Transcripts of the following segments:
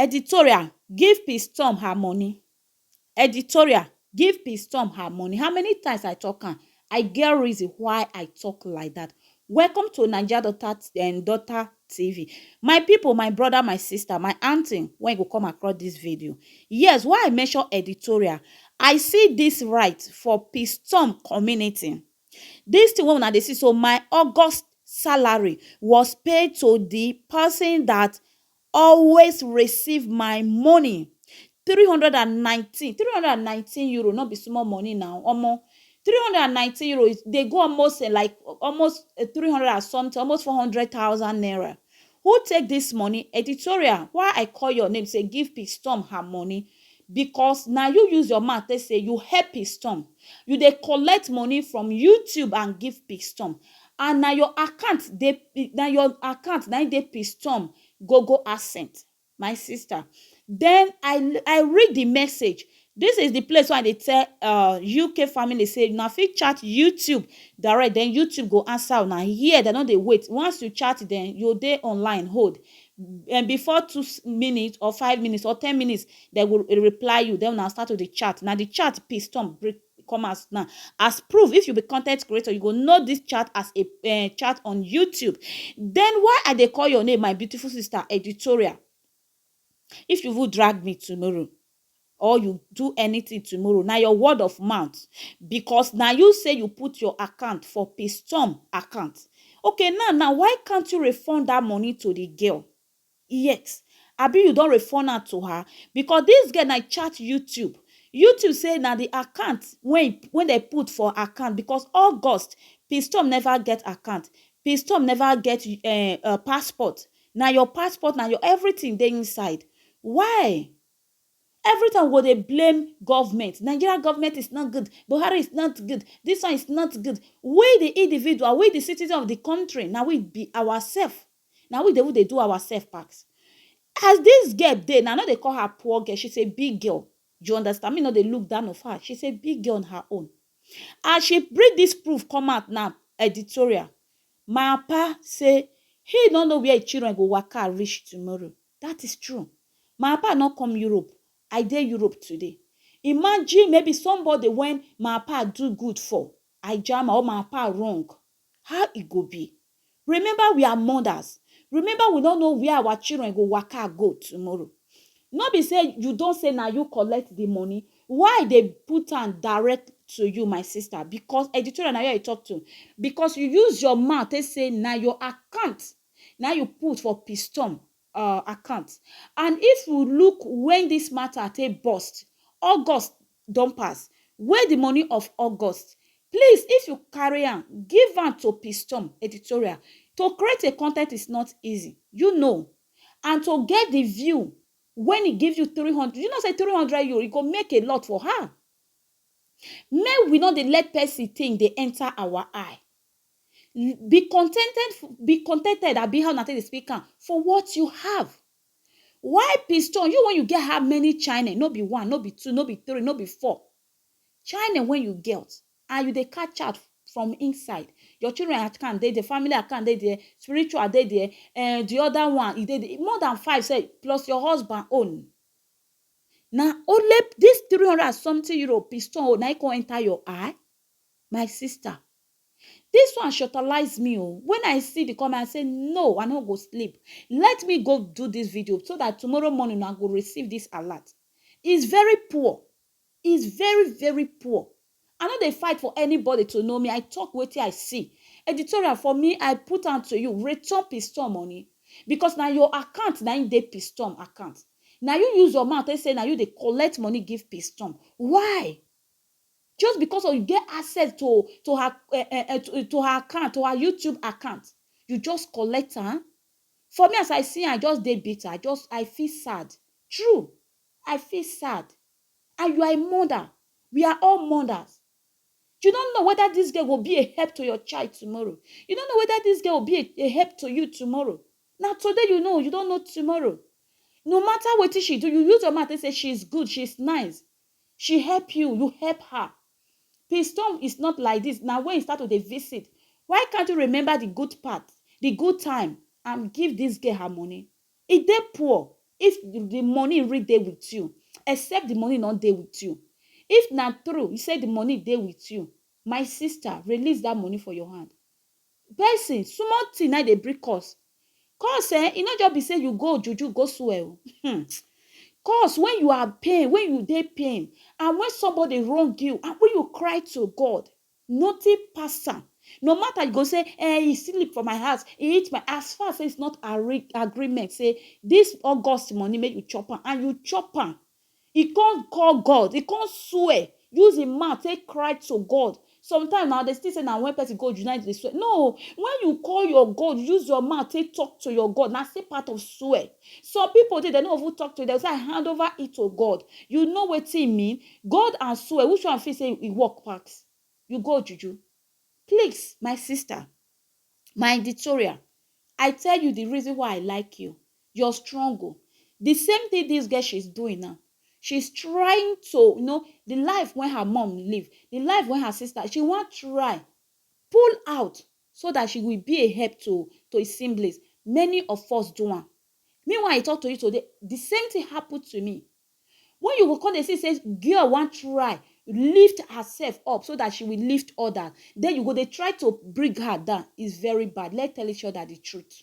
Editorial give piss tom her money Editorial give piss tom her money how many times I talk am I get reason why I talk like that welcome to naija daughter um daughter TV my people my brother my sister my aunty when you go come across this video yes why I mention editorial I see this right for piss tom community this thing wey una dey see so my August salary was paid to the person that always receive my money three hundred and nineteen three hundred and nineteen euro no be small money na omo three hundred and nineteen euro e dey go almost um like almost um three hundred and something almost four hundred thousand naira who take this money editorial why I call your name say give Peace Storm her money because na you use your mouth take say you help Peace Storm you dey collect money from YouTube and give Peace Storm and na your account dey na your account na im dey pistom gogo accent my sister den I I read the message this is the place wey I dey tell um UK family say una fit chat YouTube direct den YouTube go answer una here dem no dey wait once you chat dem you go dey online hold um before two minute or five minute or ten minute dem go reply you den una start to dey chat na the chat pistom break e come out now as proof if you be content creator you go know this chat as a um chat on YouTube then why I dey call your name my beautiful sister editorial if you even drag me tomorrow or you do anything tomorrow na your word of mouth because na you say you put your account for pistom account okay now now why can't you refund that money to the girl yet abi you don refund am to her because this girl na e chat YouTube YouTube say na the account wey wey dem put for account because August Pistom never get account Pistom never get uh, uh, passport na your passport na your everything dey inside why every time we go dey blame government Nigeria government is not good Buhari is not good this one is not good we the individual we the citizen of the country na we be ourselves Na we dey even dey do ourself pass. As this girl dey now, I no dey call her poor girl, she's a big girl, you understand, me no dey look down of her, she's a big girl on her own. As she bring this proof come out now, editorial, my papa say he no know where him children go waka reach tomorrow, that is true. My papa no come Europe, I dey Europe today. Imagine maybe somebody when my papa do good for, I jam am or my papa wrong, How e go be? Remember we are mothers, remember we no know where our children go waka go tomorrow. No be say you don say na you collect the money, why i dey put am direct to you my sister because editorial na you i talk to because you use your mouth take say na your account na you put for pistom um account and if we look wen dis mata take burst, August don pass, where di money of August? Please if you carry am, give am to Pistom Editorial, to create a content is not easy, you know and to get di view wen e give you three hundred, you know say three hundred euro e go make a lot for her, make we no dey let person thing dey enter our eye. Be contented, be contented abi how una take dey speak am for what you have. Why piston, you wey you get how many chine, no be one, no be two, no be three, no be four, chine wey you get and you dey catch out from inside, your children account dey there, family account dey there, spiritual dey there, um di oda one e dey there, more dan five sef plus your husband own, na only dis three hundred and sometin euro piston own naim kon enter your eye, my sister This one shortalize me o. When I see the comment, I say no, I no go sleep. Let me go do this video so that tomorrow morning I go receive this alert. It's very poor. It's very, very poor. I no dey fight for anybody to know me. I talk wetin I see. Editorial for me, I put am to you. Return piston money. Because na your account na im dey piston account. Na you use your mouth take say na you dey collect money give piston. Why? just because of you get access to to her uh, uh, to, to her account to her youtube account you just collect am for me as i see i just dey bitter i just i feel sad true i feel sad and you are a mother we are all mothers you don't know whether this girl will be a help to your child tomorrow you don't know whether this girl will be a, a help to you tomorrow now today you know you don't know tomorrow no matter what she do you use your mouth and say she's good she's nice She help you, you help her. Piston is not like this. Now when you start to dey visit, why can't you remember the good part, the good time and give this girl her money? E dey poor if the money really dey with you, except the money not dey with you. If na true, you say the money dey with you, my sister, release that money for your hand. Person, small thing na im dey bring curse. Curse um, e no just be sey you go juju go swear o um. Curse when you are pain, when you dey pain and when somebody wrong you and when you cry to God, nothing pass am. No matter you go sey um he sleep for my house, he eat my, as far as sey it's not agreement sey this August money make you chop am and you chop am, E come call God, e come swear, use im mouth take cry to God. Sometimes na dey think say na when person go juju na im dey swear. No o! When you call your God, use your mouth take talk to your God, na still part of swear. Some people dey, dem no go even talk to you, dem go say, I hand over it to God. You know wetin e mean? God and swear, which one you feel say e work pass? You go juju? Please, my sister, my editorial, I tell you the reason why I like you. You're strong o. The same thing this girl she's doing now. She's trying to, you know, the life when her mom live, the life when her sister, she wan try pull out so that she will be a help to to his siblings. Many of us do am. Me when I talk to you today, the same thing happen to me. When you go come dey see say girl wan try lift herself up so that she will lift others, then you go dey try to bring her down. It's very bad. Let's tell each other the truth.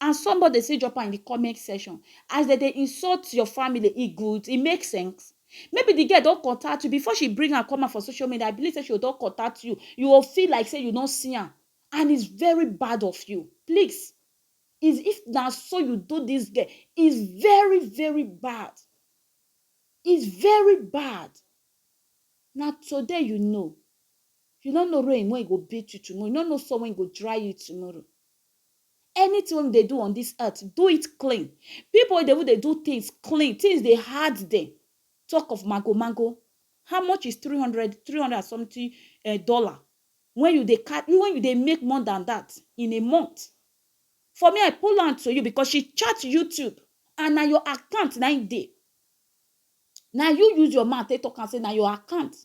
and somebody dey still drop am in the comment section as dem dey insult your family e good e make sense maybe the girl don contact you before she bring am come out for social media i believe say she don contact you you go feel like say you don see am and it's very bad of you please is if na so you do this girl is very very bad is very bad na today you know you no know rain when e go beat you tomorrow you no know sun when e go dry you tomorrow Anything wey we dey do on this earth, do it clean. People wey dey even dey do things clean, things dey hard dem, talk of mago-mago. How much is three hundred, three hundred and something um dollar when you dey car, when you dey make more than that in a month? For me, I pull am to you because she chat YouTube and na your account na im dey. Na you use your mouth take talk am say na your account.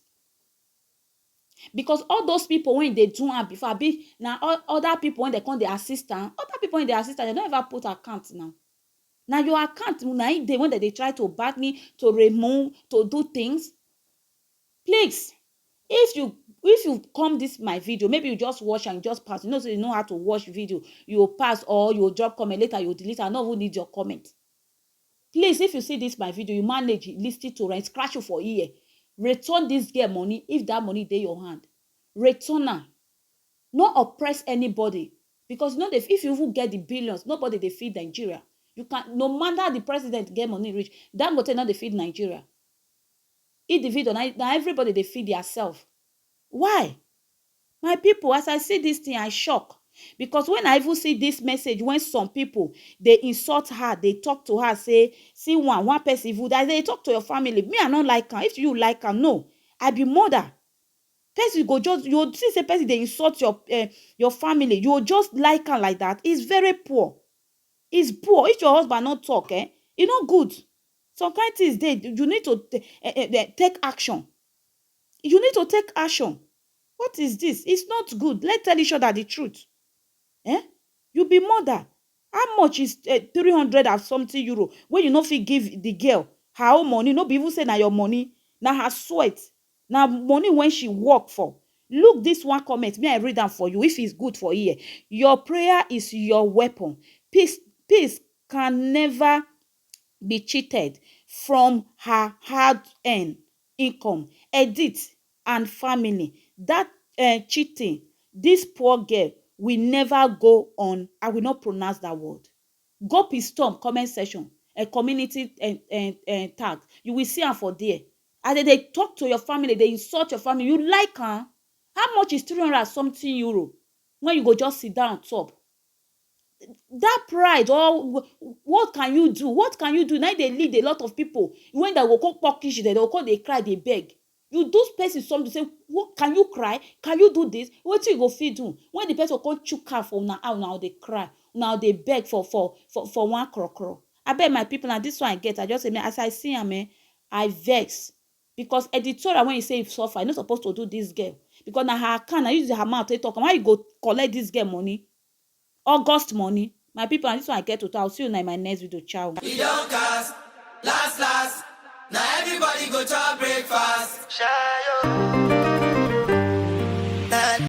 because all those people wey dey do am before abi na other people wey dey come dey assist am other people wey dey assist am dem don ever put account now na your account na im dey when dem dey try to bargain to remove to do things please if you if you come this my video maybe you just watch am you just pass you know say you know how to watch video you go pass or you go drop comment later you go delete am i no even need your comment Please if you see this my video you manage lis ten to am e scratch you for ear return this girl money if that money dey your hand return am no oppress anybody because you no dey if you even get the billions nobody dey feed Nigeria you can no matter the president get money reach Dangote no dey feed Nigeria individual na na everybody dey feed their self Why my people as I see this thing I shock because when I even see this message when some people dey insult her dey talk to her say see one one person even I dey talk to your family me I no like am if you like am no I be mother person go just you go see say person dey insult your uh, your family you go just like am like that it's very poor it's poor if your husband no talk eh e no good some kind things dey you need to uh, uh, take action You need to take action what is this it's not good let's tell each other the truth eh you be mother how much is eh, three hundred and something euro wey you no fit give the girl her own money no be even say na your money na her sweat na money when she work for look this one comment me i read am for you if it's good for here your prayer is your weapon peace peace can never be cheated from her hard earn income, edit and family that eh cheating this poor girl will never go on I will not pronounce that word go pistom comment section eh community eh eh eh tag you will see am for there as dem dey talk to your family dey insult your family you like am how much is three hundred and something euro when you go just sit down on top dat pride or what can you do what can you do na im dey lead a lot of pipu wey dey go come pour kitchen dem go come dey cry dey beg you do person something say what can you cry can you do this wetin you go fit do when de person go come chook hand for una eye una go dey cry una go dey beg for for for one kro kro abeg my pipu na dis one i get i just say make as i see am um i vex Because editorial wen you say you suffer, you no suppose to do dis girl because na her account, na you use her mouth take talk am, why you go collect dis girl money, August money? My people na dis one I get to talk, I will see una in my next video, ciao. E don cast, last last, na everybody go chop breakfast. Shayo.